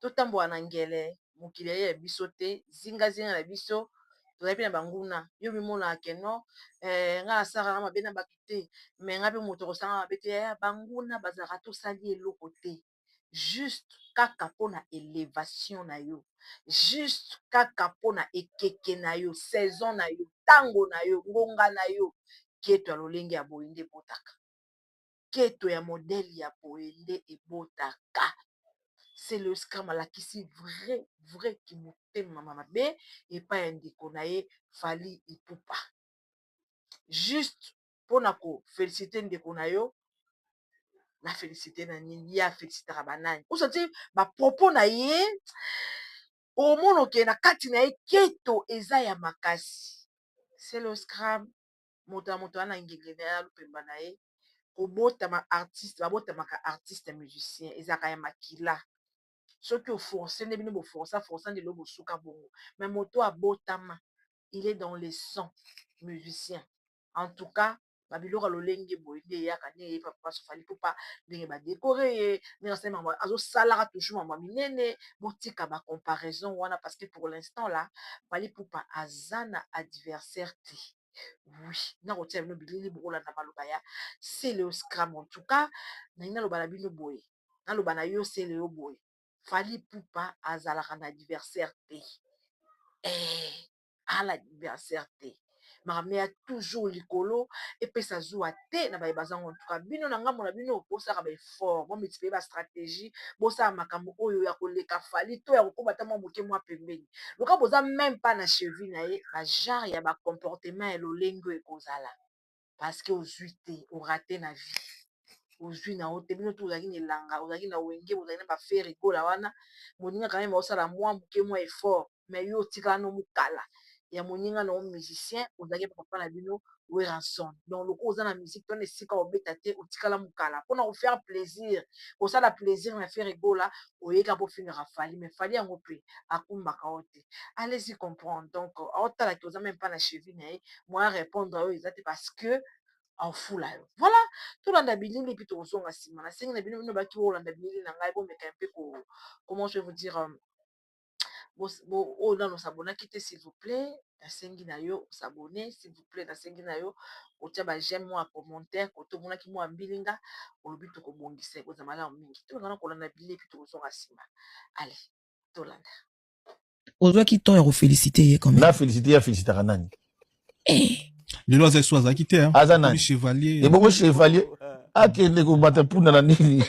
totambola na ngele mokili eye ya biso te zinga zinga na biso tozali mpe na banguna yo mimonaka ke no eh, ngai nasalaka mabe na bato te me ngai mpe moto akosanga mabe te eh, banguna bazalaka tosali eloko te juste kaka mpo na elevation na yo juste kaka mpo na ekeke na yo saison na yo ntango na yo ngonga na yo keto ya lolenge ya boye nde ebotaka nketo ya modele ya boye nde ebotaka celiouse kam alakisi vre vre kimotema ma mabe epai ya ndeko na ye fally ipupa juste mpona ko felicite ndeko na yo na felicite na nini ye a felicitaka banani o santire ba propos na ye omonoke na kati na ye nketo eza ya makasi celiouse kram moto na moto aza na ngenge na ye na lupemba na ye kobotama artiste babotamaka artiste ya musicien ezalaka ya makila soki oforce nde bino boforsa forsa nde loo bosuka bongo me moto abotama il est dans le sang musicien en tout cas babiloko ya lolenge boye nde eyaka nde eye papa sofali pupa ndenge badekore ye ndenge asali makambo azosalaka toujours makambo ya minene botika bacomparaison wana parce que pour l'instant la pali pupa aza na adversaire te oui na kotia bino bilili bokolanda maloba ya celeo scram en tout cas nalingi naloba na bino boye naloba na yo celeo boye fali pupa azalaka na adversaire te eh, ala adversaire te makambo ya toujours likolo epesa zuwa te te na baye baza ngo ntuka bino na ngambo na bino bosaka ba effort bo multiplier ba stratégie bosala makambo oyo ya koleka fali to ya kokoba ata mwa moke mwa pembeni loka boza meme pas na cheville na ye ba genre ya ba comportement ya lolenge oyo ekozala parce que ozwi te orate na vie ozwi na yo te bino tu ozalaki na elanga ozalaki na wenge bozalaki na ba fere gola wana moninga kame osala mwa moke mwa effort mais yo otika no mukala ya moninga na yo musicien ozalaki na papa na bino weranson donc loko oza na musique tona esika obeta te otikala mukala mpona kofaire plaisir kosala plaisir na fere gola oyeka mpo ofingaka fali mais fali yango mpe akumbaka yo te allesi comprendre donc aotala ke oza meme mpa na chevi na ye moya répondre oyo eza te parce que afula yo voilà tolanda bilili mpe tokozonga nsima nasengi na bino bino baki olanda bilili na ngai bomeka mpe ko comment je vous dire oyo nanu o s'abonnaki te s'il vous plait nasengi na yo o s'abonner s'il vous plait nasengi na yo otia ba j'aime mua commentaire cote omonaki mua mbilinga olobi tokobongisa ekozala malamu mingi tolanda na kolanda bilili epuis tokozonga nsima ale tolanda ozwaki temps ya ko felicite ye quand meme na felicite ye a felicitaka nani eh. lelo aza esu azalaki te aza nani chevalier ebongo chevalier akende kobata mpunda na nini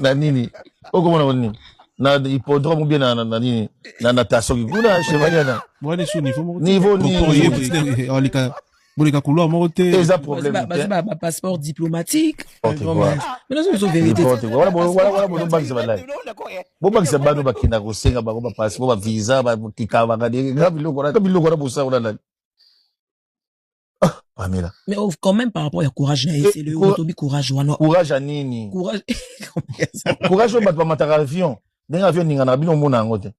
na nini okomona ko nini na hippodrome bien na na nini na natation kuna chevalier na mwana sur niveau moko niveau niveau boleka kolwa moko te eza problème ba passeport diplomatique bobakisa bano bakenda kosenga bango bapasi po bavisa bakikabaka nga biloko na bosango na nani pamela mais oh, quand même par rapport ya courage na ye c'est le otobi courage wana courage ya nini courage oyo bato bamataka avion ndenge avion eninganaka bino omona yango te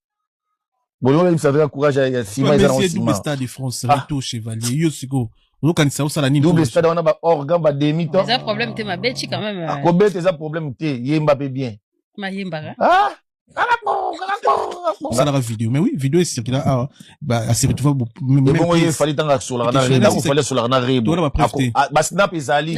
bolingo bebisa mpe courage ya sima eza nango sima stade de france ah. retour chevalier yo sikoyo ozokanisa osala nini double stade wana baorgan bademi temps eza problème te mabeti quand même ah, euh. kobeta eza problème te yemba mpe bien mayembaka ah! osalaka video mais oui video esirkila awa aseretrouva ebongo ye fali ntango asolaka na rebo fali asolaka na rebo basnap ezali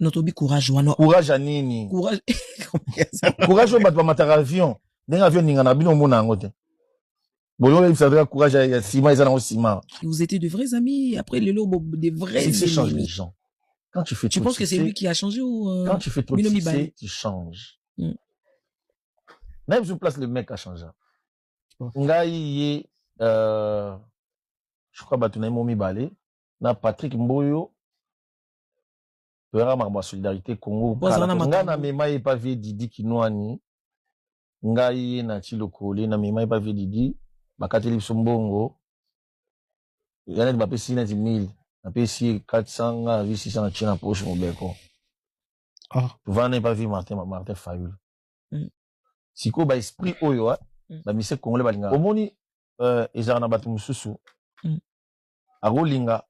no tobi courage wana courage ya nini courage courage oyo bato bamataka avion ndenge avion eningana bino omona yango te boyo oyebisa kaka courage ya sima eza nango sima vous étiez de vrais amis après lelo de vrais succès change les gens quand tu fais tu penses que c'est lui qui a changé ou euh, quand tu fais trop de succès tu changes mm. même sur place le mec a changé ngai ye euh, je crois bato na ye mo mibale na patrick mboyo toyaka makambo ya solidarité congo nga na mema ye pa vie didi kinwani ngai ye na ti lokole na mema ye pa vie didi bakateli biso mbongo ya neti bapesi neti 1000 napesi ye 400 nga azwi 600 natie na poche mobeko ah. vana ye pa vie martin martin fayul mm. sikoyo baesprit oyo ah, mm. bamise congolais balingaka omoni euh, ezalaka na bato mosusu mm. akolinga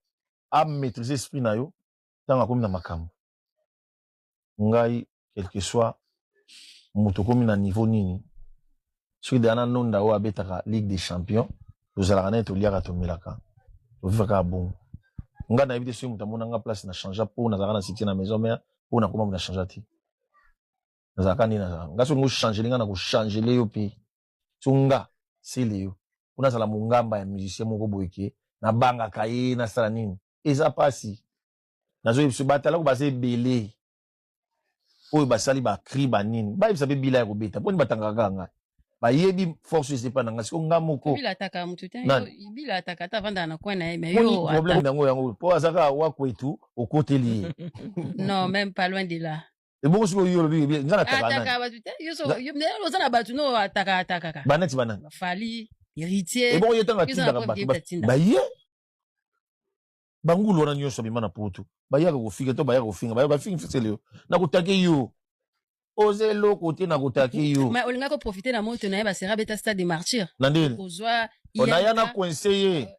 a maîtriser esprit na yo ntango akomi na makambo ngai quelque soit moto okomi na niveau nini soki deya na nonda oyo abetaka ligue des champions tozalaka naye toliaka tomelaka tovivaka ya bongo ngai nayebi te soki moto amona nga place na changea mpo nazalaka na succès na maison mère mpo nakoma moto na changea te nazalaka nde nazalaka ngai soki ngochange linga na kochangele yo mpe so nga sele yo kuna azala mongamba ya musicien moko boye ke nabangaka ye nasala nini eza pasi nazoyebisa batalako baza ebele oyo basali bacri banini bayebisa mpe bila ya kobeta mponi batangaka kaka ngai bayebi force eza epai na ngai siko ngai moko bila ataka motu te Nani? bila ataka ata avandaka na coin na ye mais moni yo problème ata- yango yango mpo aza kaka wakwetu okoteli ye non même pas loin de là ebongo siko yo lobi bien ngana taka nani ataka batu te yo so yo ne oza na batu no ataka ataka ka banati banani fali héritier ebongo yo tanga tinda ka batu ba ye bangulu wana nyonso bima na poto bayaka kofika to bayaka kofinga bayaka bafingi fisele yo na kotake yo oza eloko te na kotake yo olinga koprofite na moto na ye basera beta stade de martyr na ndeni naya na coinse ye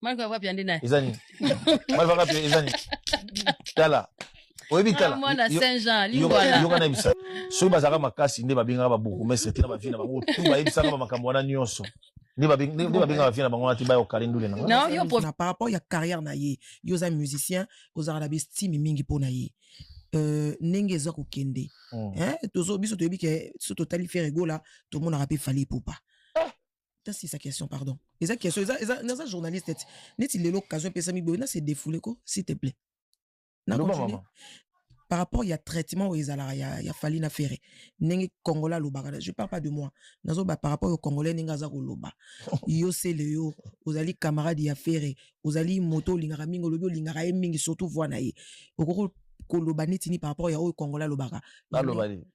malva wapi ande naye eza nini malva wapi eza nini tala oyebi tala mwana saint jean lingwala yoka na bisa soki bazalaka makasi nde babengaka ba bourgmestre tina ba vie na bango tout bayebisaka ba makambo wana nyonso nde babengaka vie na bango wana ti bayo kale ndule na nga par rapport ya carrière na ye yo oza musicien ozalaka na bestime mingi mpo na ye Euh, ndenge eza kokende hmm. biso toyebi ke so totali fere egola tomonaka mpe fali epupa tasi sa question pardon eza question eza eza naza journaliste neti neti lelo occasion epesami boye na se défouler ko s'il te plaît na continue par rapport ya traitement oyo ezalaka ya, ya fali na ferre ndenge congolais alobaka je parle pas de moi nazoba par rapport yo congolais ndenge aza koloba yo sele yo ozali camarade ya ferre ozali moto olingaka mingi olobi olingaka ye mingi surtout voi na ye okoki koloba neti ni par rapport ya oyo congolais alobaka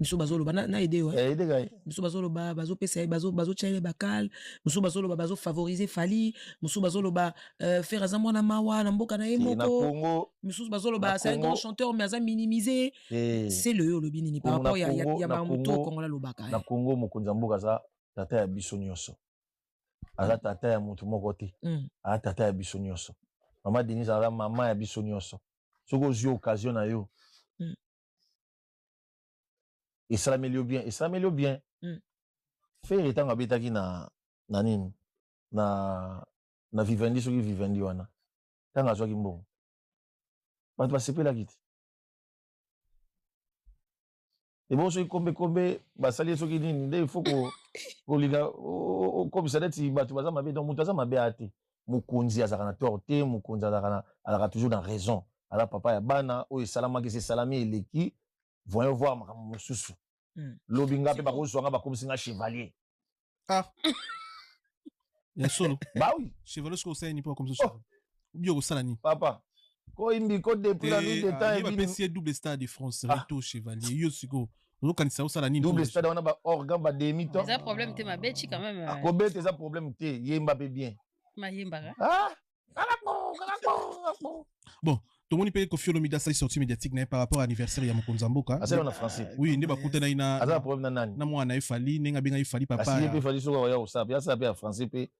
misu bazoloba na, na ede yo eh, ede kai misu bazoloba bazopesa ye bazo bazotya ye bakale misu bazoloba bazofavorize fali misu bazoloba euh, fere aza mwana mawa na mboka na ye moko misusu bazoloba c'est un grand chanteur mais aza minimise eh. se le yo olobi nini par rapport ya, ya, ya bamoto okongola lobaka na congo eh. mokonzi ya mboka aza tata ya biso nyonso aza tata ya motu moko te mm. aza tata ya biso nyonso mama denise aza mama ya biso nyonso soki ozwi occasion na yo mm. esalameli yo bien esalameli yo bien mm. fere ntango abetaki na na nini na na vivendi soki vivendi wana ntango azwaki mbongo bato basepelaki te ebongo soki kombe kombe basali ye soki nini nde ifo kolinga okomisa neti bato baza mabe donc moto aza mabe aya te mokonzi azalaka na tort te mokonzi azalaka na azalaka toujours na raison aza papa ya bana oyo esalamaki se esalami eleki voyons voir makambo mosusu hmm. lobi nga mpe bakozwa nga bakomisi nga chevalier ah. ya solo bawi chevalier soki osalani mpo bakomisi oh. obi okosala nini papa koyimbi ko depuis la nuit de temps ebimi double star de France ah. rito chevalier yo sikoyo ozokanisa osala nini double stade wana ba organ ba demi temps eza problème te mabe chi quand même akobeta eza problème te yemba pe bien mayembaka ah bon tomoni mpe kofi olomide asali sorti médiatique na ye par rapport à anniversaire ya mokonzi ya mboka asala na français oui nde bakutanaki na aza na problème na nani na mwana na ye fali ndenge abengaki fali papa ye mpe fali soki akoya kosala mpe asala mpe ya français mpe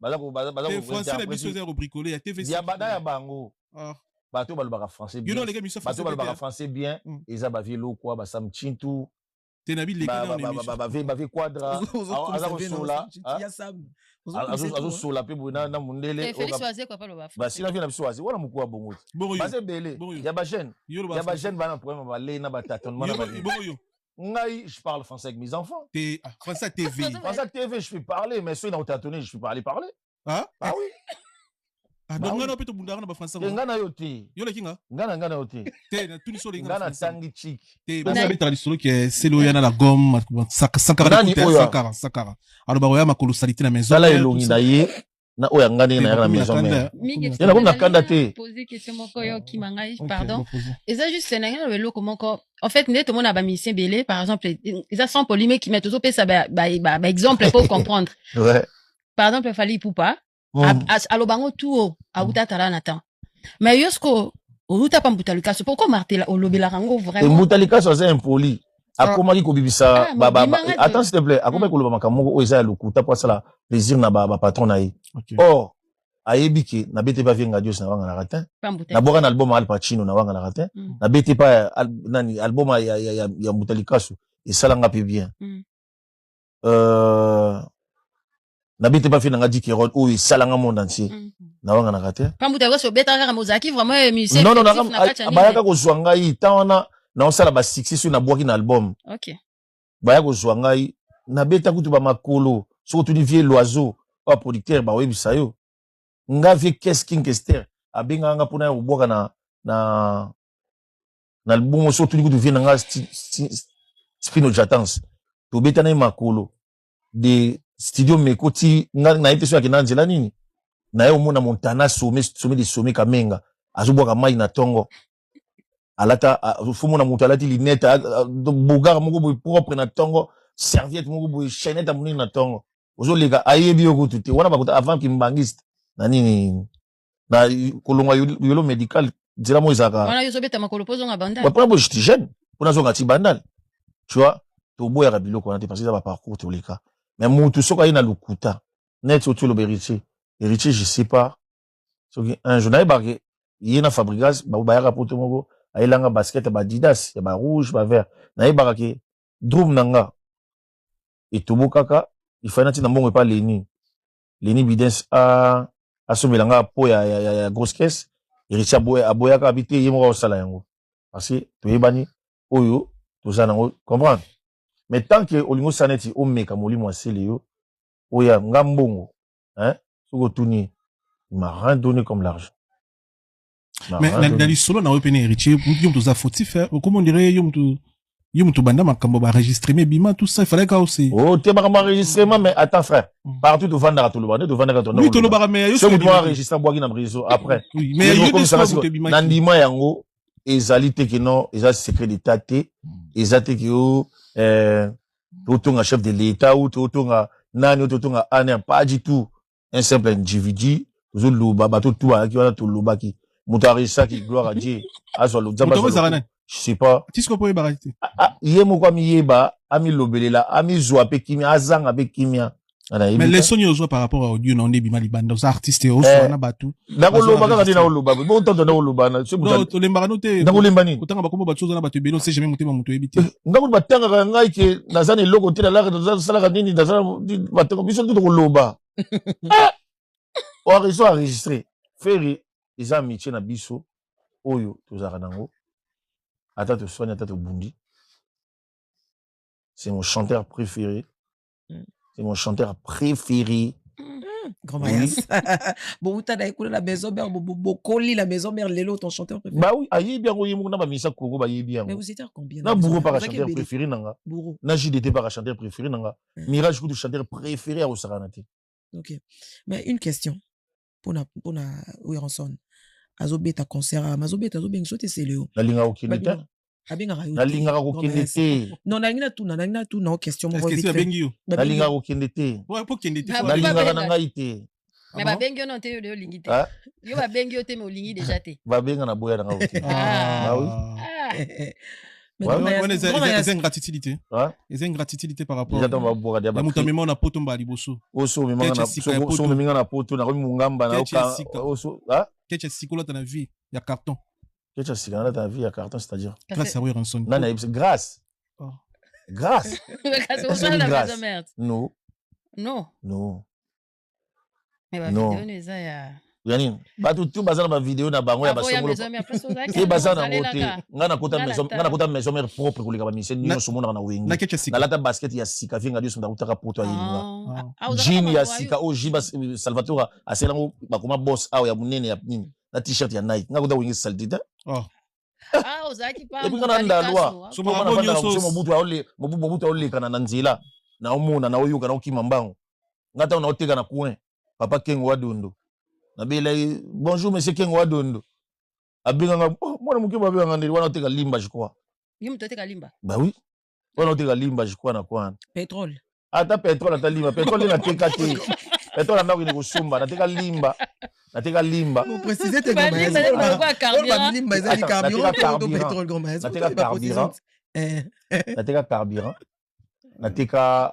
baza ko baza baza ko français na biso eza ko bricoler ya TV ya bana ya bango ah bato balobaka français bien bato balobaka français bien mm. eza ba vieux lokwa ba sam chintu te na bileki na émission ba vie ba vie quadra aza ko sola azo sola pe boye na mundele ba sila vie na biso azi wana mukua bongo te baze bele ya ba jeune ya ba jeune bana problème ba lei na ba tatonement na ba bongo yo ngai je parle français avec mes enfants te ah, français tv français tv je peux parler mais soki na otatone je peux parler parler ah ah oui ah, donc ngai na mpe tobundaka na bafrançais ngai na yo te yo leki nga ngai na ngai na yo te te na tuni so ngai na tangi chik te babetaka lisolo ke selo ya na la gomme sankara sankara sankara aloba koya makolo salite na maison tala elongi na ye na oyo anga ndenge nayaka na maison mère ye nakomi na kanda te eza juste nange na eloko moko en fait nde tomona ba musicien ebele par exemple eza sans polime kima tozopesa baexemple ba, ba, ba po comprendre ouais. par exemple fali ipupa mm. aloba yango tuo awuta atala na temps mais yo sikoyo owuta pa mbuta likasu poko martela olobelaka yango vraiment mbuta likasu aza impoli ah. akomaki kobibisa ah, attends s'il te plaît akomaki mm. koloba makambo moko oyo eza ya lokuta mpo asala plaisir na bapatron na ye or ayebi ke na bete pa vie ngadios na wanganaka te nabwaka na album ya al pacino na wanganaka te mm. na bete pa nani album ya, ya, ya, ya mbuta likasu esalanga mpe bien mm. euh, na bete bafi na nga dike rod oyo esala nga monde entier mm. na wanga na kate pambu ta koso beta kaka mozaki vraiment eh, musicien non non na bayaka ko zwa ngai ta wana na osala ba succès sur na bwaki na album OK baya ko zwa ngai na beta kutu ba makolo soko tu ni vieux loiseau ba producteur ba webisa yo nga vieux Kes King Kester abenga nga pona ya kobwaka na na na album soko tu ni kutu vieux na nga Spino Jatans tobeta na ye makolo de studio meko ti nga na yete so ya kina nzela nini na ye omona montana some some de some kamenga azobwaka mai na tongo alata fomona moto alati linete bogar moko boye propre na tongo serviette moko boye chainette ya monene na tongo ozoleka ayebi yo kutu te wana bakuta avant kimbangiste na nini na kolonga yolo medical nzela mo ezalaka wana yo ozobeta makolo mpo ozonga bandal mpona bo jeti jeune mpo nazonga ti bandal tu vois toboyaka biloko wana te parce eza baparcours toleka mais mutu soki aye na lokuta neti oti oloba héritier héritier je sais pas soki un jour nayebaka ye na fabrigas bango bayaka poto moko ayelanga basket ya badidas ya barouge bavert nayebaka ke drum na nga etobokaka ifai natina mbongo epa leni leni bidens asombela nga po ya, ya, ya, ya grosse caisse eritie aboya, aboyaka abi te ye moko akosala yango parce que toyebani oyo toza nango comprendre mais tant que olingi osala neti omeka molimo asele yo oya nga mbongo hein, soki otuni il m'a rien donné comme l'argent mais na, na lisolo na yo mpe na héritier yo moto oza fautif eh. okoma ondire yo moto yo moto banda makambo baregistreme bima tout ça ifalaki kao se oh, te makambo enregistrement mais attends frère mm. partout tovandaka toloba nde tovandaka oui tolobaka mais yo soki mwa enregistre abwaki na réseau après oui mais yo komisaka siko na ndima yango ezali te kino eza secret d'état te mm. eza te ke yo euh, totonga chef de l'état ou totonga nani oyo totonga aner pas du tout un simple individu tozoloba bato tu bayaki wana tolobaki moto aresaki gloire à dieu azwa lozamba je sais pas ye moko amiyeba amilobelela amizwa mpe kimia azanga mpe kimia mais lesson yo ozwa par rapport à audio na onde ebima libanda oza artiste ozoana eh. bato nakoloba kaka nde nakoloba botanta nakoloba tolembaka no te nakolemba nini kotanga bakombo bato oza na bato ebele ose jamais motema moto oyebi te eh, nga kutu batangaka ngai ke naza na eloko te nalaka nasalaka nini naza batanga biso nde tokoloba eh! oarezo enregistre feri eza amitie na biso oyo tozalaka nango ata toswani ata tobundi c'est mon chanteur préféré c'est mon chanteur préféré Grand Mayas. Bouta na ekolo la maison mère bokoli la maison mère lelo ton chanteur préféré. Bah oui, ayebi yango ye moko na ba misa koko ba yebi yango. Mais vous étiez combien Na bouro par chanteur préféré nanga. Bouro. Na JDT par chanteur préféré nanga. Mirage kutu chanteur préféré à Osaka na te. OK. Mais une question. pona pona Werrason azobeta concert ama azobeta azobenga sote celeo nalinga kokende te abengaka yo nalingaka kokende te non nalingi natuna nalingi natuna o question moko abengi yo nalingaka kokende te nalingaka na ngai te me babengi yo non te yo de olingi te yo babengi yo te me olingi deja te babenga na boya na ngai oke bawi wana eza ingratitude te eza ingratitude te par rapportmoto amema na poto mbala liboso osomeminga na poto nakomi mongamba nakecha sikolata na vie ya carton kecha sikolata na vie ya carton c'est-à-dire grâce ya ranson nani ayebisa grâce oh. grâce grâce non non non Mais ba Non. video no eza ya ya nini bato tu baza na bavideo na bango ya Avant ya basongolo maison mère place ozalaki te na baza na yango te ozalelaka. ngai nakota Nga maison- nata. ngai nakota maison mère propre koleka bamisie Na- nyonso omonaka na wenge nakecha sika nalata basket ya sika vinga nyonso nakutaka poto ya elinga Ah, ah, ozalaka jean ya mawa, sika oyo jean bas- euh, salvatore asala yango bakoma boss awa ya monene ya nini na t-shirt ya nike ngai kuta wenge salite te ah, ozalaki pa epuis ngai na ndalwa Soma Toma bango nafandaka nyonso. kuso mobutu aole- mobu- mobutu aolekana na nzela naomona naoyoka naokima mbango nga ntango naoteka na coin papa kengo wa dondo nabela ye bonjour monsieur kengo wa dondo abenganga oh, mwana moke babenganga ndeli wana oteka limba je crois ye moto oteka limba ba oui wana oteka limba je crois na kwana petrole ata petrole ata limba petrole nateka te petrole andako ine kosomba nateka limba nateka limba nateka carburant nateka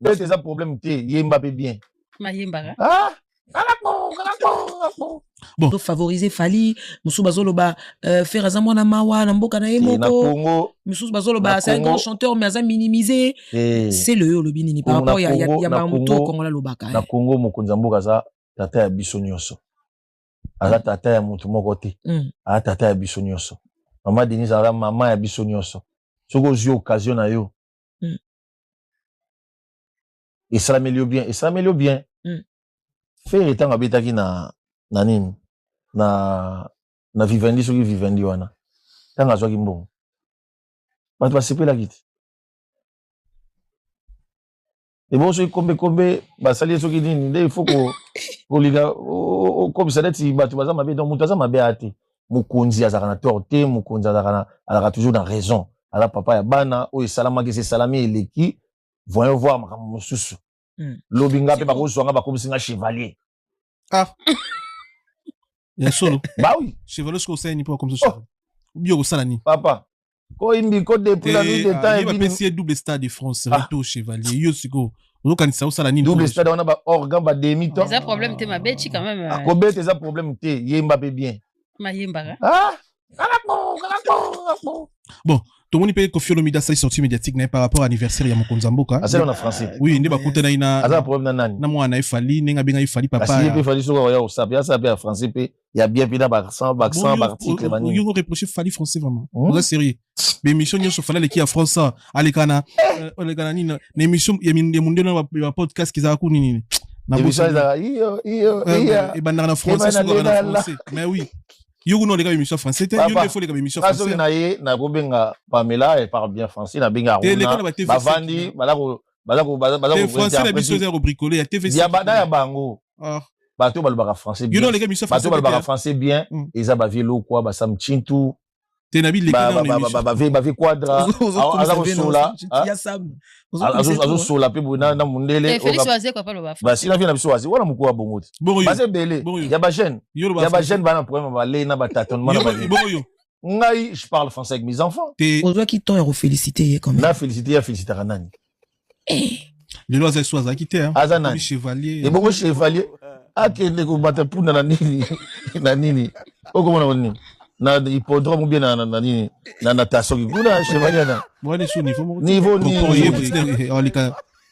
Bete eza problème te, yemba pe bien. Nayembaka. Ah! bon favoriser fali mosusu bazoloba euh, fer aza mwana mawa na mboka na ye moko misusu bazoloba c'est un grand chanteur mais aza minimise eh. c'est le yo olobi nini par rapport ya, ya, ya bamoto kongola alobaka na eh. congo mokonzi ya mboka aza tata ya biso nyonso aza mm. tata ya motu moko te mm. aza tata ya biso nyonso mama denise aza mama ya biso nyonso soki ozwi occasion na yo mm. esalameli yo bien esalameli yo bien mm. fere ntango abetaki na na nini na na vivendi soki vivendi wana ntango azwaki mbongo bato basepelaki te ebongo soki kombe kombe basali ye soki nini nde ifo kolinga okomisa neti bato baza mabe donc moto aza mabe aya te mokonzi azalaka na tort te mokonzi azalaka toujours na raison aza papa ya bana oyo esalamaki esi esalami eleki voyons voir makambo mosusu hmm. lobi nga mpe bakozwa nga bakomisi nga chevalier ah. ya solo bawi chevalier soki osalani mpo bakomisi oh. obi okosala nini papa koyimbi ko depuis la nuit de temps ah, ebini bapesi ye double stade de france ah. reto chevalier yo sikoyo ozokanisa osala nini double stade wana ba organ ba demi temps eza problème te mabe ti quand même ah, euh, kobeta eza problème te yemba mpe bien mayembaka ah bon tomoni mpe kofi olomide asali sortie médiatique na ye par rapport anniversaire ya mokonzi ya mboka asala na français oui nde bakutanaki na aza problème na nani na mwana na ye fali ndenge abengaki fali papa ye mpe fali soki akoya kosape asape ya français mpe ya bien mpe na baaccent baaccent baarticle manini yo reproche fali français vraiment hmm? oza sérieux baémission nyonso fali aleki ya france aleka na eh! euh, aleka na nini na émission ya mondele na bapodcast kizala ku nini ebandaka na français sokaka na français mais oui yo kuna oleka baémission français te yo nde fo oleka baémission français na ye nakobenga pamela elle parle bien français nabenga aruna bavandi balako baza ko baza baza ko français na biso eza ko bricoler ya TV ya bana ya bango ah bato balobaka français bien bato balobaka français bien hmm. eza ba vieux lokwa ba sam chintu te na bile ba ba ba vie ba vie quadra aza ko sola azo sola pe na na mundele ba sila vie na biso wazi wana mukua bongo te ba se bele ya ba jeune ya ba jeune bana problème ba le na ba tâtonnement na ba bongo yo ngai je parle français avec mes enfants te ozwaki temps ya kofelicite ye quand même na félicite ye afelicitaka nani eh. lelo aza esu azalaki te aza nani chevalier ebongo chevalier akende kobata mpunda na nini na nini okomona nini na hippodrome bien na na nini na natation kuna chevalier na niveau niveau niveau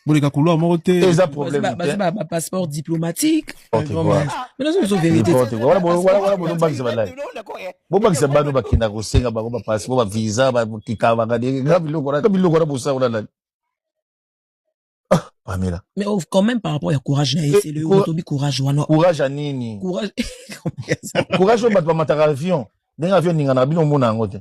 boleka kulwa moko te eza problème baza ba passeport diplomatique mais nazo biso vérité wala wala bono bakisa balai bo bakisa bano bakenda kosenga bango ba passeport ba visa ba kikabanga de nga biloko na biloko na bosako na nani ah, Pamela. Mais oh, quand même par rapport à courage na c'est le otobi courage wana. Courage à nini? Courage. courage au batwa mataka avion. Ndenge avion ninga na bino mona yango te.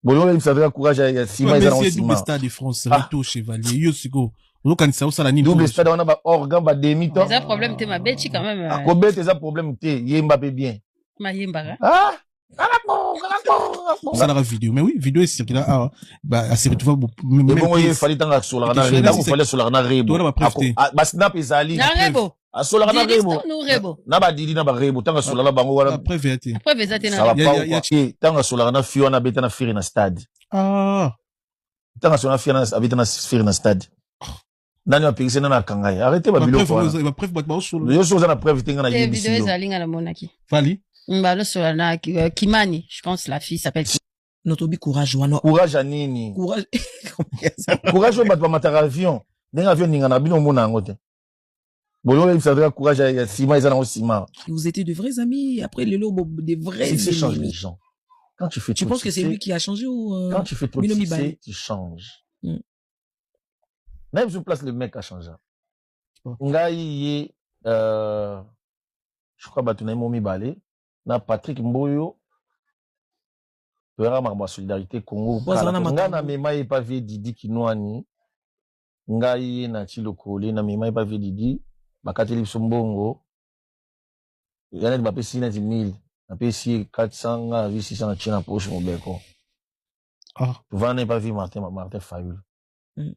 bolongo ebisa mpe courage ya sima eza nango sima stade de france ah. retour chevalier yo sikoyo ozokanisa osala nini double stade wana ba organ ba demi temps eza problème te mabeti quand même akobeta ah, euh. eza problème te yemba mpe bien mayembaka ah osalaka video mais oui video esirkila awa aseretrouva ebongo ye fali ntango asolaka na rebo fali asolaka na rebo basnap ezali asolaka na rebo na badidi na barebo ntango asola na bango wana ntango asolaka na fi wana abeta na firi na stade ah. ntango asola na fi wana abeta na firi na stade nani apekisi nani akanga ye arrete babiloko wanayoso oza na preuve te nga na yebisi fali balosola na euh, kimani je pense la fille s'appelle notobi courage wana courage ya nini courage oyo bato bamataka avion ndenge avion ningana bino omona yango te bolingo oyebisa ata courage ya sima eza nango sima vous étiez de vrais amis après lelo de vrais succès change les gens quand tu fais tu penses que c'est lui qui a changé ou euh, quand tu fais trop de succès tu changes mm. même sur place le mec a changé ngai ye euh, je crois bato na ye mo mibale na patrick mboyo toyaka makambo ya solidarité congo ngai na mema ye pa vie didi kinwani ngai ye na ti lokole na mema ye pa vedidi bakateli biso mbongo ya neti bapesi ye neti 1000 napesi ye 400 ngai nazwi 600 na tie na poche mobeko Ah. vana epa vi martin martin fayulu Mm.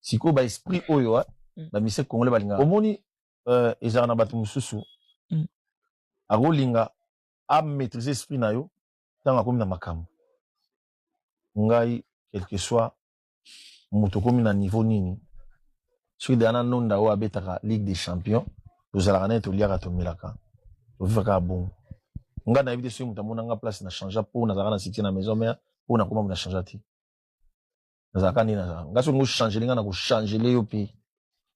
sikoyo ba esprit oyo ah, Mm. ba mise congolais balingaka omoni euh, ezalaka na bato mosusu Mm. akolinga amaîtrise esprit na yo ntango akomi na makambo ngai quelque soit moto okomi na niveau nini soki deya na nonda oyo abetaka ligue des champions tozalaka naye toliaka tomelaka toviva kaka bongo ngai nayebi te soki moto amona nga place na changea mpo nazalaka na succès na maison mère mpo nakoma na changea te nazalaka nde nazalaka ngai soki ngochangele ngai nakochangele yo mpe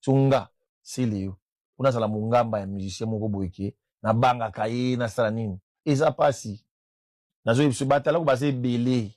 so nga sele yo mpo nazala mongamba ya musicien moko boye ke nabangaka ye nasala nini eza mpasi nazoyebi biso batalako baza ebele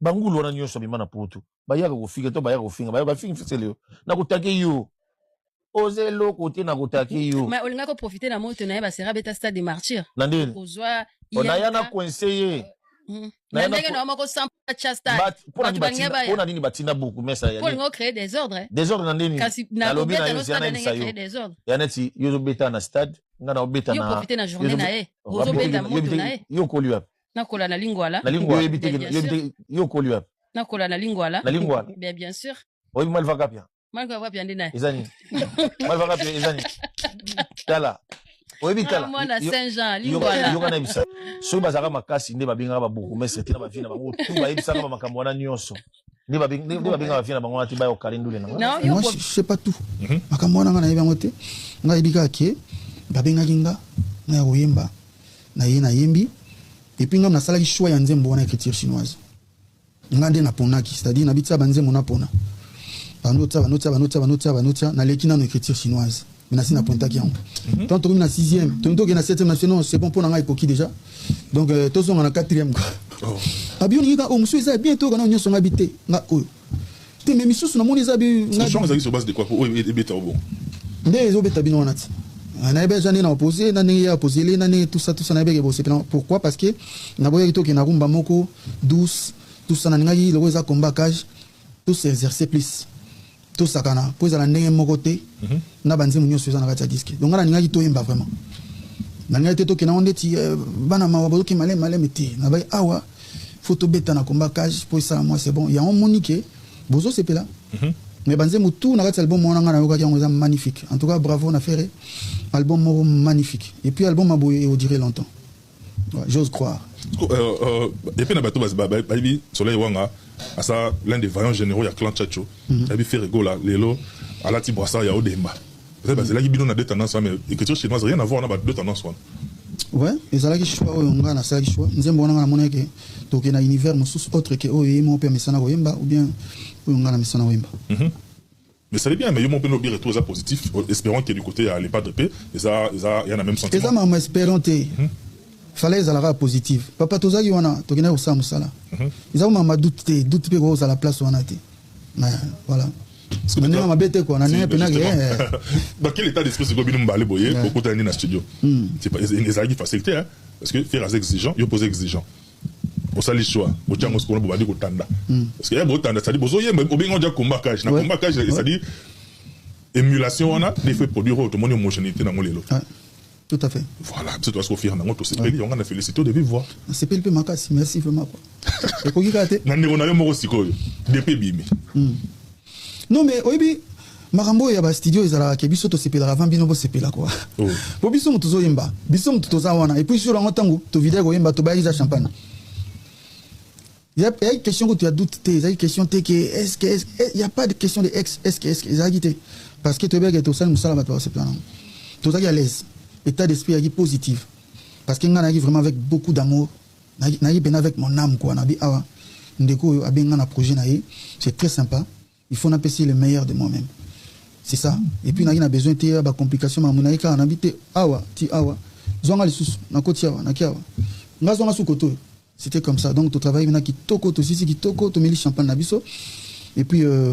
bangulu wana nyonso abima na poto bayaka kofinga to bayaka kofinga bayo bafingi fisele yo na kotake yo oza eloko te na kotake yo mais olinga ko profiter na moto na ye basera beta stade de martyr na ndeni kozwa onaya na coince ye hmm. na ndenge na moko sans cha stade bato bange baya pona nini batinda buku mesa ya olinga créer des ordres desordre na ndeni kasi na lobeta no stade ndenge créer des ordres ya neti yo zo beta na stade nga na obeta na yo profiter na journée na ye ozo beta moto na ye yo koli wapi nakola na lingwala na lingwala oyebi te yo okoli wapi nakola na lingwala na lingwala bien bien sûr oyebi malva kapia malva kapia nde naye eza nini malva kapia eza nini tala oyebi tala mwana saint jean lingwala yoka na yebisa soki bazalaka makasi nde babengaka ba bourgmestre te na bavie na bango tu bayebisaka ba makambo wana nyonso nde babengaka vie na bango wana te baya kokale ndule nango moi je sais pas tout mhm. makambo wana nga nayebi yango te nga yebi kaka ke babengaki nga nga ya koyemba na ye nayembi epuis nga nasalaki choix ya nzembo wana écriture chinoise nga nde naponaki c'est-à-dire nabitisa banzembo napona banotia banotia banotia banotia banotia naleki nano écriture chinoise menasi na pointaki yango mhm. tant tokomi na sixième tolingi tokende na septième na biso non c'est bon mpo na ngai ekoki déjà donc euh, tozonga na quatrième kaka oh. abi olingi ka oyo oh, mosusu eza bien toyoka nao nyonso ngai bi te nga oyo te mais misusu namoni eza bi nde ezobeta bino wana ti nayebi aza ndenge na opose na ndenge ya opozele na ndenge tusa tusa nayebi eke bosepela pourquoi parce que naboyaki tokende na rumba moko douce tusa nalingaki loko eza combat cage tous exercer plus tosakana mpo ezala ndenge moko te mm -hmm. na banzembo nyonso eza na kati ya diske donc nga nalingaki toyemba vraiment nalingaki te tokenda ngo ndeti eh, bana mawa bazoki maleme maleme te nabai awa fo tobeta na combat cage mpo esala mwa c'est bon yango omoni ke bozosepela mm -hmm. mais banzembo tout na kati ya album wana ngai nayokaki yango eza magnifique en tout cas bravo na ferre album moko magnifique et puis album aboye eodire longtemps J'ose croire. Euh, euh, et puis na bato bayebi Soleil Wanga asa l'un des vaillants généraux ya clan Chacho. Mhm. Ayebi Ferre Gola lelo alati brassard ya Odemba. Peut-être bazelaki bino na deux tendances mais écriture chinoise rien à voir na ba deux tendances wana. Ouais, ezalaki choix oyo ngai nasalaki choix. Nzembo wana ngai namonaki ke tokende na univers mosusu autre ke oyo ye moko mpe amesana koyemba ou bien oyo ngai namesana koyemba. Mhm. Mais ça veut bien mais yo moko pe lobi retour eza positif esperant que du cote ya le padre pe eza eza ya na meme sentiment eza mama esperant te mm -hmm. fala ezala kaka positive papa tozaki wana tokendaki kosala mosala mhm. eza komama doute te doute mpe kokozala place wana te voilà ndenge mabe te kua na ndenge mpenaki dans quel état d'esprit sikoyo bino mibale boye bokutani na studio hmm. ezalaki facile te parce que faire aza exigeant yo poza exigeant Bosali choix, botia yango sikoyo bobandi kotanda. Mm. Parce que ya botanda, c'est-à-dire bozoyemba, obengi oja combat cage. Na combat cage, c'est-à-dire émulation wana, il faut produire autre, mon homogénéité dans mon lelo. Ah. Tout à fait. Voilà, biso toasi kofira nango tosepeli yango na félicité de vive voix. Nasepeli mpe makasi, merci vraiment quoi. Ekoki kaka te. Na ndeko na yo moko sikoyo, depuis ebimi. Mm. Non mais oyebi makambo ya ba studio ezalaka ke biso tosepelaka avant bino bosepela quoi oh. po biso moto tozoyemba biso moto toza wana epuis sur yango ntango tovida koyemba tobayaki za champagne ezalaki question kutu ya doute te ezalaki question te ke eske eh, ya pas de question de ex eske eske ezalaki te parce que toyebaki tosali mosala bato bakosepela nango tozalaki à l'aise état d'esprit yaki positive parce que ngai nayaki vraiment avec beaucoup d'amour Naye pena avec mon âme quoi nabi awa ndeko oyo abenga na projet na ye c'est très sympa il faut na pesi le meilleur de moi-même c'est ça et puis naye na besoin te ya ba complication ma munaye kaka nabi te awa ti awa zwanga lisusu na koti awa na kiawa nga zwanga su koto c'était comme ça donc to travaille na kitoko to sisi kitoko to meli champagne na biso et puis euh,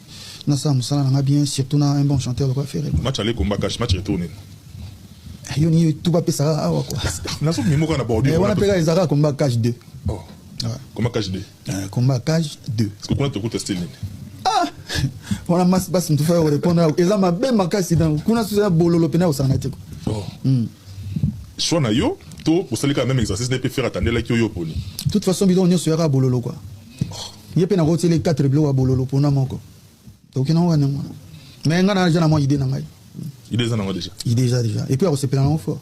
nasala mosala nanga bien surtout na un bon chanteur lokola ferre match aller combat cash match retour nini ah, yo ni tout bapesaka awa kua naso mimo kaka na bordure wana mpe kaka ezalaka combat cash 2 combat cash 2 combat cash 2 kuna tokuta style nini ah! wana masi basi motu faya korepondre yako eza mabe makasi dango kuna susu ya bololo mpena kosangana te oh. hmm. soi na yo to osalika meme exercice na ye mpe fere atandelaki oyo oponi toute façon bidongo nyonso yaka bololo kua ye mpe nakoti ele 4 biloko ya bololo mpona moko tokoki nango kani yango mais ngai naza na mwa idée na ngai idée eza nango déjà idée eza déjà epuis akosepela nango fort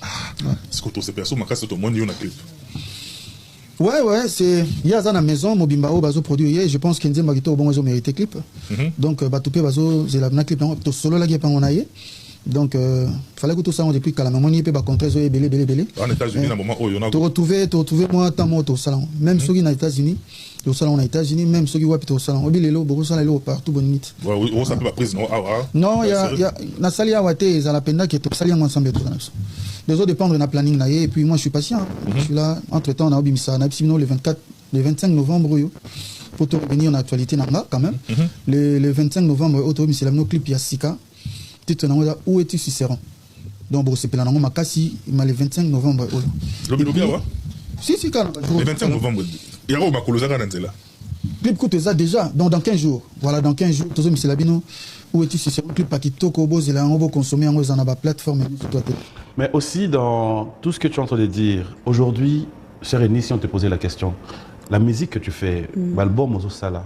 ah, siko tosepela so makasi tomoni yo na clip Ouais, ouais, c'est. Il y a la maison, Mobimba, au bazo produit. Je pense que Nzemba Gito, bon, ils ont mérité clip. Mhm. Donc, euh, Batoupe, bazo, c'est la clip, tout solo, la gueule, on a donc euh, fallait kutu sango depuis kala mais moni pe ba contrats oyo ebele ebele ebele en États-Unis na moment oyo na to retrouver to retrouver moi tant moto sala même soki na États-Unis to sala na États-Unis même soki wapi to sala obi lelo boko sala lelo partout bonne nuit ouais on s'appelle la prise non ah ouais non ya ya na sali ya wate za la penda que to sali yango ensemble tout ça les autres dépendre na planning na et puis moi je suis patient mhm. je suis là entre temps na obi misa na bino le 24 le 25 novembre oyo pour te revenir en actualité nanga quand même mhm. le, le 25 novembre oyo to misela no clip ya sika titre na yango eza où es-tu Cicéron donc bokosepela nango makasi ma le 25 novembre oyo lobilobi awa si si kaka le 25 novembre yango makolo ezaka na nzela clip kutu eza déjà donc dans 15 jours voilà dans 15 jours tozomisela bino où es-tu Cicéron clip ya kitoko bozela yango boconsomme yango eza na baplateforme nyonso to te mais aussi dans tout ce que tu es en train de dire aujourd'hui cher Eni si on te posait la question la musique que tu fais mm. baalbum ozosala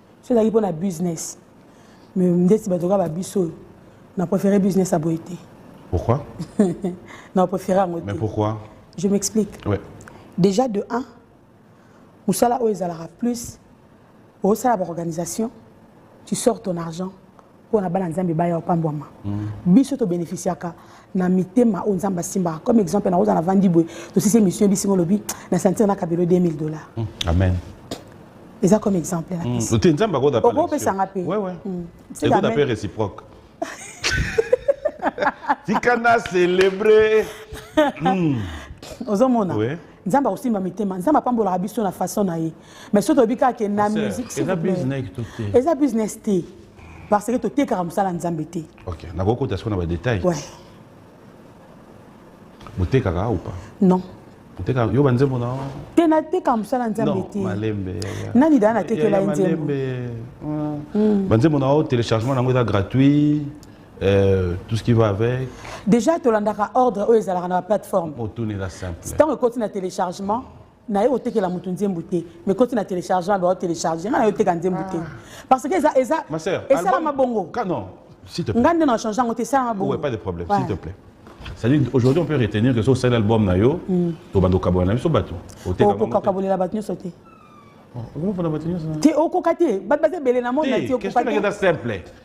soki ezalaki mpo na business mais ndeti bato kaka babiso oyo na préféré business ya boye te pourquoi na préféré yango te mais pourquoi je m'explique ouais. déjà de 1 mosala oyo ezalaka plus osala baorganisation tu sors ton argent mpo na bana nzambe baya opambwama mm. biso tobenefisiaka na mitema oyo nzambe asimbaka comme exemple nakoza na vandi boye tosisi émission ebisinga olobi na sentir na kabelo 2000 dollars mm. amen eza comme exemple napesite mm. nzambe akodapesanga mpe ekodape réciproque tika na célébré ozomona nzambe akosimba mitema nzambe apambolaka biso na façon na ye mais soki toyebi kaka ke na musique eza business te parce que totekaka mosala nzambe te ok nakokota siko na badetail ouais. botekaka ou pas non oteka yo banzembo na te nateka mosala nzambe te malembe nani daa natekela ye nzembo hmm. banzembo na yo téléchargement na yango eza gratuit Euh, tout ce qui va avec déjà tolandaka ordre oyo ezalaka na baplateforme otunela simple ntango ekoti na téléchargement naye kotekela moto nzembo te mais koti na téléchargement bao télécharge nga naye oteka nzembo te parce que eza eza esalama bongo nga nde na change yango te esalama bongo pas de problème s'il te plaît c'est-à-dire aujourd'hui on peut retenir que so osali album na yo hmm. tobanda kokabola na biso bato okokabolela bato nyonso te te okoka te bato baza ebele na mona te okoka te simple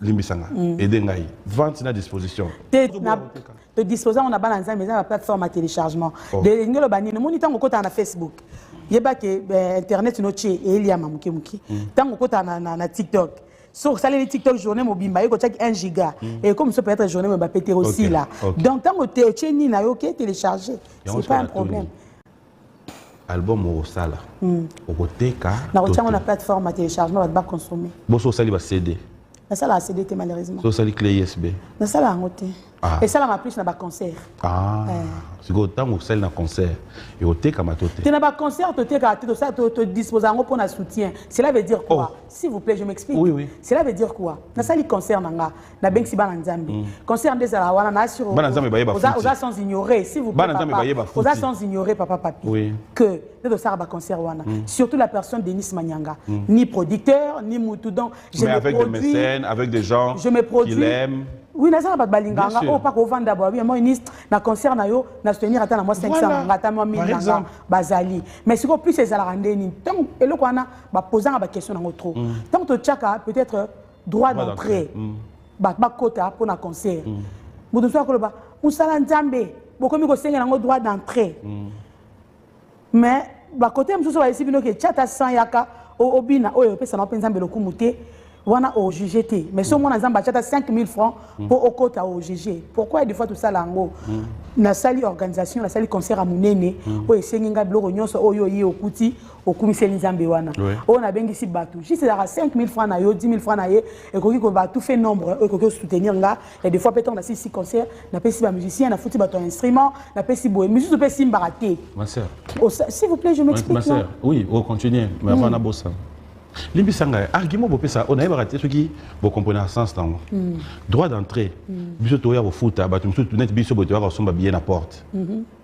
limbisa nga mm. aide ngai vente na disposition todispose yango na bana nzambe eza na plateforme ya téléchargement oh. elingi oloba nini omoni ntango okotaka na facebook yeba ke eh, internet no tie eliama moke moke ntango mm. okotaka na, na, na tiktok soki osaleli tiktok journée mobimba yeko otiaki 1 giga mm. ekomi so peut-être journée mobimba pete osila donc ntango otie nini na yo oke télécharge c'est pas un problème album okosala hmm. okoteka nakotiango na plateforme ya téléchargement bato baconsomme boso osali ba cd nasalaka cd te malheureusement so osali clé isb nasala yango te ah. esalaka plus na baconcert ah. eh. sikoyo ntango osali na concert ekotekama to te te na baconcert totekaka te todisposa yango mpo na soutien cela veut dire quoi oh. s'il vous plaît je m'explique oui, oui. cela veut dire quoi nasali concert na nga nabengisi bana nzambe mm. concert nde ezala wana na sur bana nzambe baye bafuti oza sans ignorer si vous bana nzambe baye bafuti oza sans ignorer papa papi oui. que nde tosala ba concert wana mm. surtout la personne Denis Manyanga mm. ni producteur ni mutu donc je Mais me avec produis, des mécènes avec des gens je me produis qu'il aime oui naza na bato balinganga oyo mpaka ovanda bwa bien moynis na concert na yo na soutenir ata na mwa 500 nanga ata mwa 1000 nanga bazali mais sikoyo plus ezalaka nde nini ntango eloko wana bapozanga baquestion nango trop ntango mm. totyaka peut-être droit d'entrée mm. bato bakota mpo na concert mm. moto mosusu akoloba mosala nzambe bokomi kosengela yango droit d'entrée mm. mais bakote mosusu bayesi bino ke chata san yaka obina oyo epesama mpe nzambe lokumu te wana ojuge te mais so omona nzambe achata 5000 francs mpo okota ojuge pourquoi des fois tosala yango nasali organisation nasali concert ya monene oyo esengi ngai biloko nyonso oyo oye okuti okumiseli nzambe wana oyo nabengisi bato juste ezalaka 5000 francs na yo 10 000 francs na ye ekoki koba tout fait nombre oyo ekoki kosoutenir nga ya des fois mpe ntango nasilisi concert napesi bamusicien nafuti bato ya instrument napesi boye misusu mpe esimbaka te s'il vous plaît je m'explique oui ocontinue oh, mais avant hmm. nabosa limbisa ngai argument bopesa oyo nayebaka te soki bokomprene na sens nango hmm. droit d'entrée hmm. biso toya kofuta bato mosusu neti biso boye toyaka kosomba billet na porte mm -hmm.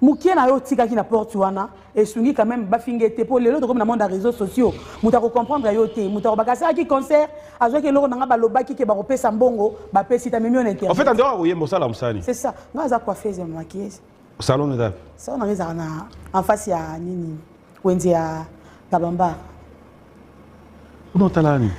mukie na yo otikaki na porte wana esungi quand même bafinga ete mpo lelo tokomi na monde ya réseaux sociaux moto akocomprendre yo te moto akobaka asalaki concert azwaki eloko na ngai balobaki ke bakopesa mbongo bapesi tamemi yo na internet en fait andeko akoyemba osala mosani c'est ça ngai aza coiffeuse ya maquilleuse salon eza salon na ngai ezalaka na en face ya nini wenze ya kabamba kuna otala nani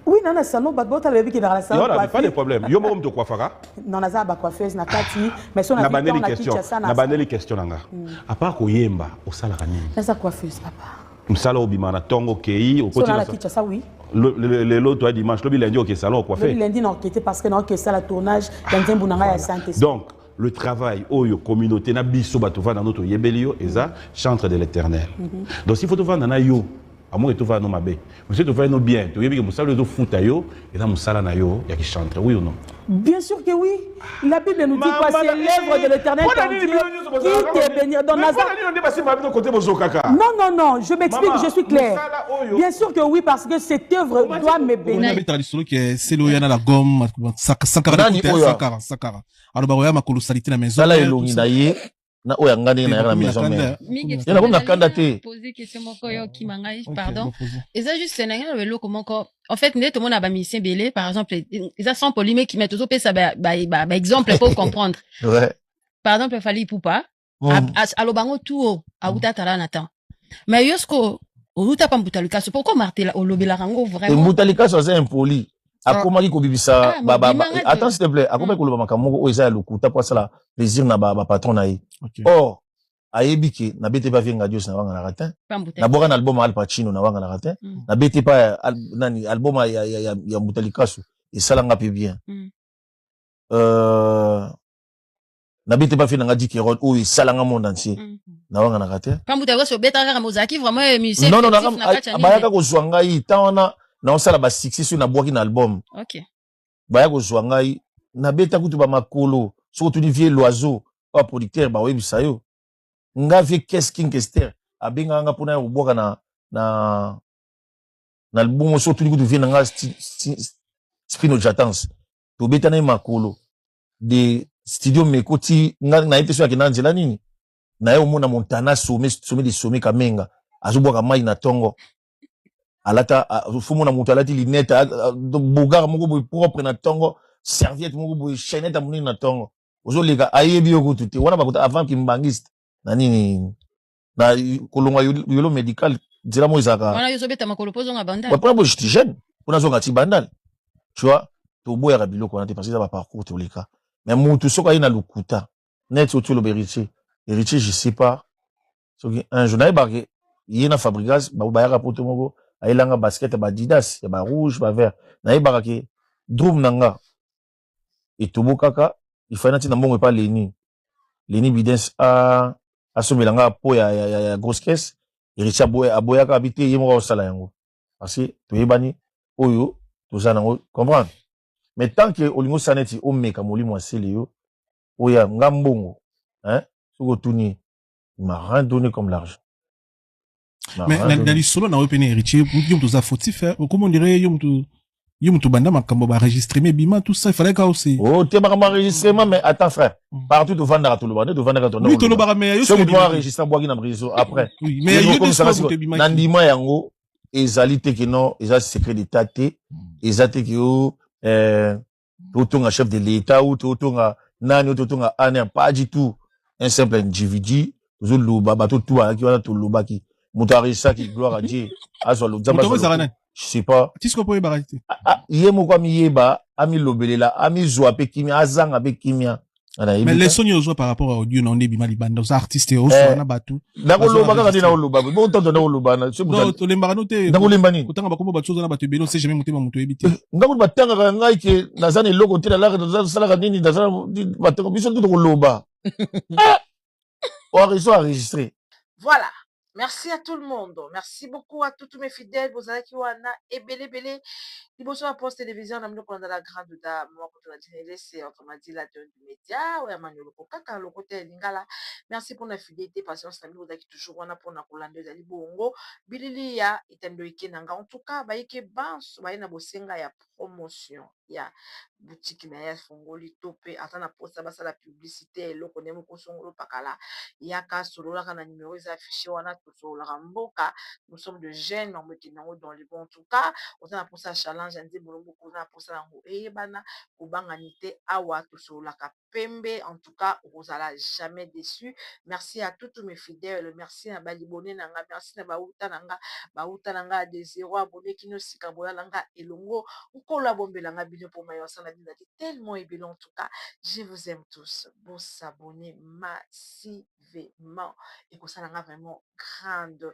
oui nana salon bato baotala bayebi kendaka na salon Yola, pas de problème yo moko moto okuafaka non naza na bacoiffeuse na kati mais so na bandeli question na bandeli question na nga hmm. apart koyemba osalaka nini naza coiffeuse papa mosala obima na ntongo okei okotikinshasa oui lelo toya dimanche lobi lundi oke salon okuafe lundi na oke te parce que na oke esala tournage ya nzembo na ngai ya sainte donc le travail oyo communauté na biso bato vanda no toyebeli yo eza chantre de l'éternel mm -hmm. donc s'il faut tovanda na yo amoke tovanda no mabe mosi tovandi no bien toyebi ke mosala oyo ezofuta yo eza mosala na yo ya kichantre oui ou non Bien sûr que oui. La Bible nous dit quoi C'est l'œuvre de l'éternel qui te bénit. Dans Nazareth. Non, non, non, je m'explique, je suis clair. Bien sûr que oui, parce que cette œuvre doit me bénir. aloba koya makolo salite na maison tala elongi na ye na oyo anga ndenge nayaka na maison mère ye nakomi na kanda te poser question moko yo okima ngai pardon eza juste na ngai na eloko moko en fait nde tomona ba musicien belé par exemple eza sans polémique mais tozopesa ba ba ba exemple pour comprendre ouais. par exemple Fally Ipupa mm. aloba yango tu o awuta tala na temps mais yo siko oluta pa mbuta likasu pourquoi martela olobelaka yango vraiment mbuta likasu aza impoli ah. akomaki kobibisa ah, attends s'il te plaît akomaki mm. koloba makambo moko oyo eza ya lokuta mpo asala plaisir na bapatron na ye or ayebi ke na bete pa vienga dios na wanga na ratin na boka na album al pacino na wanga na ratin mm. na bete pa nani album ya ya ya, ya mbuta likasu esala nga pe bien mm. euh na bete bafi na nga dike rod oyo esala nga monde entier mm. na wanga na kate kambu ta koso beta kaka mozaki vraiment eh, musicien non non na kaka bayaka ko zwa ngai tant wana na osala ba succès sur na bwaki na album OK baya ko zwa ngai na beta kutu ba makolo soko tu ni vieux loiseau ba producteur ba webisa yo nga vieux qu'est-ce king kester abenga nga pona ya kobwaka na na na album soko tu ni kutu vieux na nga spino jatance tobeta na ye makolo de studio meko ti nga na ye te soki akenda na nzela nini na ye omona montana some some de some kamenga azobwaka mai na tongo alata fomona moto alati linete bogara moko boye propre na tongo serviette moko boye chainete ya monene na tongo ozoleka ayebi yo kutu te wana bakuta avant kimbangiste na nini na kolongwa yolo medical nzela mo ezalaka wana yo ozobeta makolo mpo ozonga bandal mpona bo jeti jeune mpo nazonga ti bandal tu vois toboyaka biloko wana te parce eza baparcours toleka mais mutu soki aye na lokuta neti oti oloba héritier héritier je sais pas soki un jour nayebake ye na fabrigas bayaka poto moko ayelanga basket ya badidas ya barouge bavert nayebaka ke drum na nga etobokaka ifai nati na mbongo epa leni leni bidens asombela nga po ya, ya, ya, ya grosse caisse eritie aboya, aboyaka abi te ye moko akosala yango parce que toyebani oyo toza nango comprendre mais tant que olingi osala neti omeka molimo asele yo oya nga mbongo hein, soki otuni il m'a rien donné comme l'argent mais na, na lisolo na yo mpe na héritier yo moto oza fautif eh. okoma ondire yo moto yo moto banda makambo baregistreme bima tout ça ifalaki kao se oh, te makambo enregistrement mais attends frère mm. partout tovandaka toloba nde tovandaka oui tolobaka mais yo soki mwa enregistre bwaki na réseau après oui mais yo komisaka siko na ndima yango ezali te kino eza secret d'état te mm. eza te kio euh, totonga chef de l'etat ou totonga nani ou totonga aner pas du tout un simple individu tozoloba bato tu bayaki wana tolobaki moto aresaki gloire à dieu azwa lozamba je sais pas ye moko amiyeba amilobelela amizwa mpe kimia azanga mpe kimia mais leçon nini ozwa par rapport à audio na yo nde ebima libanda oza artiste oswa eh, na bato nakoloba kaka nde nakoloba botanza nakoloba tolembaka no te nakolemba nini kotanga bakombo bato oza na bato ebele ose jamais motema moto oyebi te eh, ndako batangaka ngai ke naza na eloko te nalaka nasalaka nini naza batanga biso nde tokoloba eh! oizo enregistre voilà merci à tout le monde merci beaucoup à toutes mes fidèles bozalaki wana ebele ebele liboso ya poste télévision na mino kolanda la grande da mama koto na dina elese autrement dit la dionne du média oya manioloko kaka lokota ya lingala merci mpona fidélité patience na bino ozalaki toujours wana mpona kolanda ezali bongo bilili ya etando eke na nga en tout cas bayike banso baye na bosenga ya promotion ya boutique na ye afongoli to pe aza na mposa basala publicite ya eloko ne moko songolo pakala yaka solola kaka na numero eza affiche wana tosololaka mboka nous sommes de jeunes makambo ekende nango dans le bon en tout cas oza na mposa ya challenge ya nzembo lokola oza na mposa yango eyebana kobanga n'ite awa tosololaka pembe en tout cas okozala jamais deçu merci à toute mes fidèles merci na ba libone na nga merci na ba wuta na nga ba wuta na nga de zero abonne kino sika boya na nga elongo nkolo abombela nga bino po mayo asala bino ezali tellement ebele en tout cas je vous aime tous bo s'abonner massivement ekosala nga vraiment grande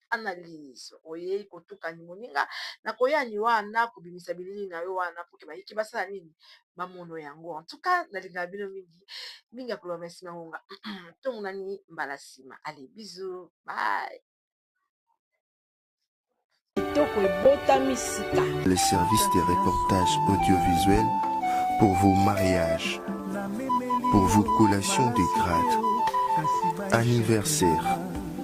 analyse oyei kotukani moninga na koyani wana kobimisa bilili na yo wana poke bayiki basala nini bamono yango en tout cas nalingaka bino mingi mingi ya koloba merci na ngonga tomonani mbala nsima ale bizu bye kitoko ebotami sika le service de reportage audiovisuel pour vos mariages pour vos collations de grade anniversaire